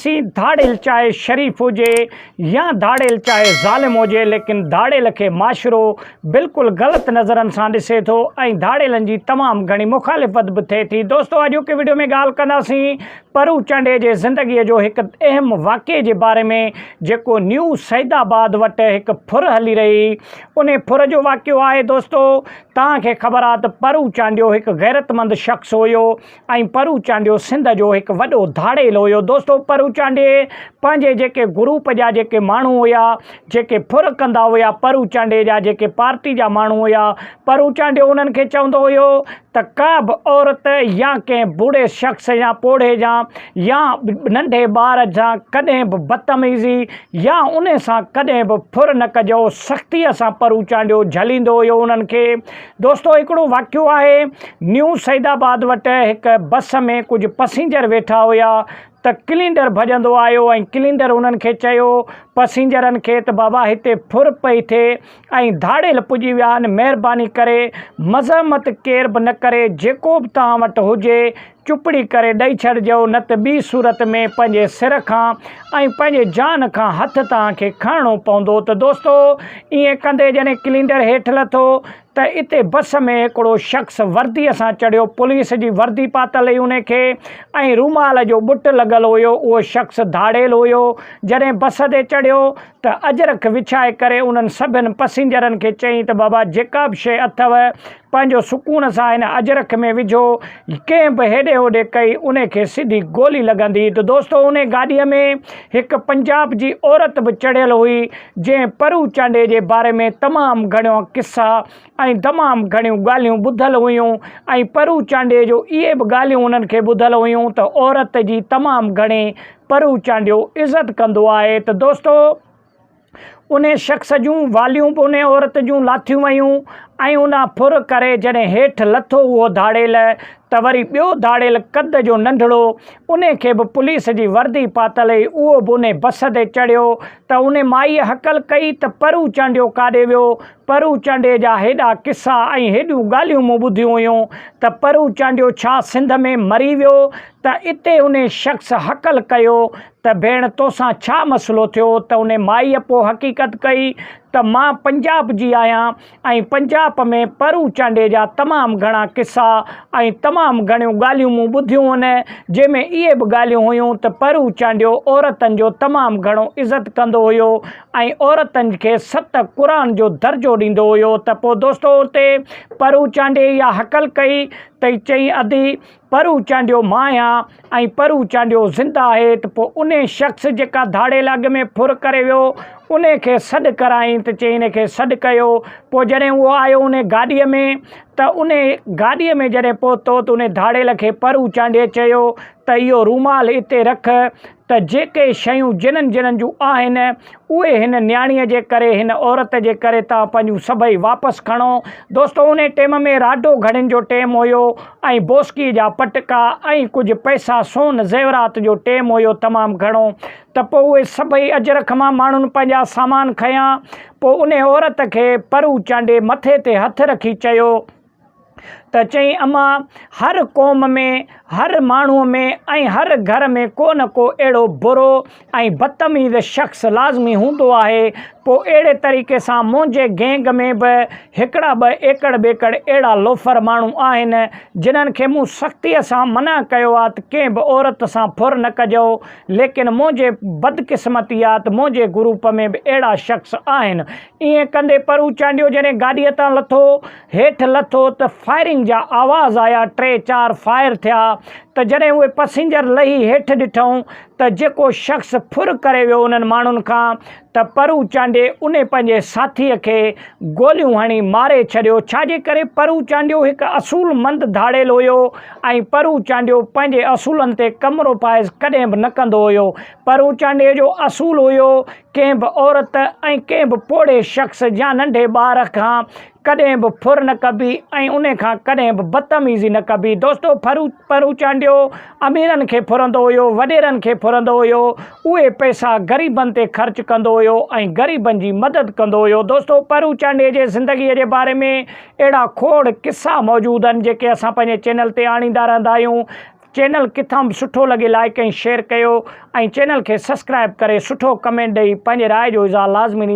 سي ڌاڙيل چاهي شريف هجي يا ڌاڙيل چاهي ظالم هجي ليڪن ڌاڙيل کي معاشرو بلڪل غلط نظرن سان ڏسي ٿو ۽ ڌاڙيلن جي تمام گهڻي مخالفت به ٿئي ٿي دوستو اڄوڪي وڊيو ۾ ڳالهه ڪنداسين پرو چانڊيي جي زندگي جو هڪ اهم واقعي جي باري ۾ جيڪو نيو سعيد آباد وٽ هڪ ڦر هلي رهي ان ڦر جو واقعو آهي دوستو توهان کي خبر آهي ته پرو چانڊيو هڪ غيرتمند شخص هيو ۽ پرو چانڊيو سنڌ جو هڪ وڏو ڌاڙيل هيو دوستو پرو چانڊي پنهنجي جيڪي گروپ جا جيڪي ماڻهو هيا جيڪي ڦر ڪندا هيا پرو چانڊي جا جيڪي پارٽي جا ماڻهو هيا پرو چانڊيو انهن کي چوندو هيو ته ڪا به عورت يا ڪنهن بوڙهي شخص يا پوڙهي جا يا ننڍي ٻار سان ڪڏهن به بدتميزي يا ان سان ڪڏهن به ڦر نه ڪجو سختيء سان پرو چانڊيو جهليندو هيو انهن کي دوستو هڪڙو واقعو آهي نيو سعيد آباد وٽ هڪ بس ۾ ڪجهه پسينجر ويٺا هيا ته ڪلينڊر ڀڄندو آيو ۽ ڪلينڊر انهن کي چيو پسينجرن کي ته بابا هتي ڦر پئي ٿئي ۽ ڌاڙيل پڄي ويا آهن مهرباني ڪري مزحمت ڪير به نه ڪري جيڪو به توهان وٽ هجي چپڙي ڪري ڏئي ڇڏجو نه ته ٻي صورت ۾ پنهنجي سر کان ۽ پنهنجي جان کان هٿ توهان کي کڻڻو پوندو ته دوستو ائين ڪندي جڏهن ڪلينڊر هيٺ لٿو ته اتي بس ۾ هڪڙو شخص ورديء سان چڙهيو پوليس جي وردي پاتل هئي ان کي ۽ رومال جو ٻٽ لڳل هيو اهو شخص ڌاڙيل هيو جڏهن بس تي چڙهيو ته اجرڪ وڇائي ڪري انهن سڀن پسينجرن کي چيائين ته بابا جيڪا به شيء اٿو پنهنجو سڪون سان هن اجرڪ ۾ وجهو، ڪنهن به هيڏي هوڏي ڪئي، انهي کي سڌي گولي لڳندي ته دوستو انهي گاڏيء ۾ هڪ پنجاب جي عورت به چڙهيل هئي، جنهن پرو چانڊئي جي باري ۾ تمام گهڻيا قصا ۽ تمام گهڻيون ڳالهيون ٻڌل هيون ۽ پرو چانڊئي جو اهي به ڳالهيون انهن کي ٻڌل هيون ته عورت جي تمام گهڻي پرو چانڊيو عزت ڪندو آهي ته دوستو ان شخص جون واليون به ان عورت جون لاٿيون ويون ۽ ان ڦر ڪري جڏهن هيٺ لٿو اهو ڌاڙيل ته وري ٻيو ڌاڙيل قد جو ننڍڙو ان کي به پوليس جي وردي پاتل هئي اهو به ان بس تي چڙهيو ته ان مائيء هڪل ڪئي ته پرو چانڊيو ڪاڏي ويو؟ پرو چانڊيي جا هيڏا قصا ۽ هيڏيون ڳالهيون مون ٻڌيون هيون ته پرو چانڊيو ڇا سنڌ ۾ مري ويو ته اتي ان شخص هڪل ڪيو ته ڀيڻ توسان ڇا مسئلو ٿيو ته ان مائيء پوء حقيقت ڪئي ته مان پنجاب جي آهيان ۽ پنجاب ۾ پرو چانڊيي جا تمام گهڻا قصا ۽ تمام گهڻيون ڳالهيون مون ٻڌيون هن جنهن ۾ اهي به ڳالهيون هيون ته پرو چانڊيو عورتن جو تمام گهڻو عزت ڪندو هيو ۽ عورتن کي ست قرآن جو درجو ڏيندو هيو ته پوء دوستو اتي پرو چانڊيي اها هڪل ڪئي تي چيائين ادي پر هو چانڊيو مان آهيان ۽ پر هو چانڊيو زنده آهي ته پوء انهي شخص جيڪا ڌاڙيل اڳ ۾ ڦر ڪري ويو، انهي کي سڏ ڪرايائين ته چيائين انهي کي سڏ ڪيو. پوء جڏهن اهو آيو انهي گاڏيء ۾ ته انهي گاڏيء ۾ جڏهن پهتو ته انهي ڌاڙيل کي پر هو چانڊيي چيو ته اهو رومال اتي رک ته جيڪي شيون جنھن جنھن جون آھن اھي ھن نياڻيء جي ڪري ھن عورت جي ڪري توھان پنھنجون سڀئي واپس کڻو. دوستو انھي ٽيم ۾ راڊو گھڙين جو ٽيم ھيو ۽ بوسڪي جا پٽڪا ۽ ڪجھ پئسا سون زيورات جو ٽيم ھيو تمام گھڻو ته پوء اھي سڀئي اجرڪ مان ماڻھن پنھنجا سامان کنيا پوء انھي عورت کي پرو چانڊي مٿي تي ھٿ رکي چيو ته چئي امان هر قوم ۾ هر ماڻهو ۾ ۽ هر گهر ۾ ڪو نه ڪو اهڙو برو ۽ بدتميز شخص لازمي هوندو آهي پوء اهڙي طريقي سان منهنجي گينگ ۾ به هڪڙا ٻه ايڪڙ ٻيڪڙ اهڙا لوفر ماڻهو آهن جنهن کي مون سختي سان منع ڪيو آهي ته ڪنهن به عورت سان ڦر نه ڪجئو ليڪن منهنجي بدقسمتي آهي ته منهنجي گروپ ۾ به اهڙا شخص آهن ائين ڪندي پرو چانڊيو جڏهن گاڏيء تان لٿو هيٺ لٿو ته فائرنگ جا آواز آيا، ٽي چار فائر ٿيا ته جڏهن اهي پئسينجر لهي هيٺ ڏٺائون ته جيڪو شخص ڦر ڪري ويو انهن ماڻهن کان ته پرو چانڊيي انهي پنهنجي ساٿيء کي گوليون هڻي ماري ڇڏيو، ڇاجي ڪري پرو چانڊيو هڪ اصول مند ڌاڙيل هيو ۽ پرو چانڊيو پنهنجي اصولن تي ڪمروپائز ڪڏهن به نه ڪندو هيو، پرو چانڊيي جو اصول هيو ڪنهن به عورت ۽ ڪنهن به پوڙهي شخص يا ننڍي ٻار کان ڪڏهن به ڦر نه ڪبي ۽ ان کان ڪڏهن به بدتميزي نه ڪبي. دوستو! ڦرون چانڊيو اميرن کي ڦرندو هيو، وڏيرن کي ڦرندو هيو. اهي پئسا غريبن تي خرچ ڪندو هيو ۽ غريبن جي مدد ڪندو هيو. دوستو! ڦرون چانڊيي جي زندگيء جي باري ۾ اهڙا کوڙ قصا موجود آهن، جيڪي اسان پنهنجي چينل تي آڻيندا رهندا آهيون. چينل ڪٿان به سٺو لڳي لائيڪ ۽ شيئر ڪيو ۽ چينل کي سسڪرائب ڪري سٺو ڪمينٽ ڏئي پنهنجي راء جو اظهار لازمي ڏيندو.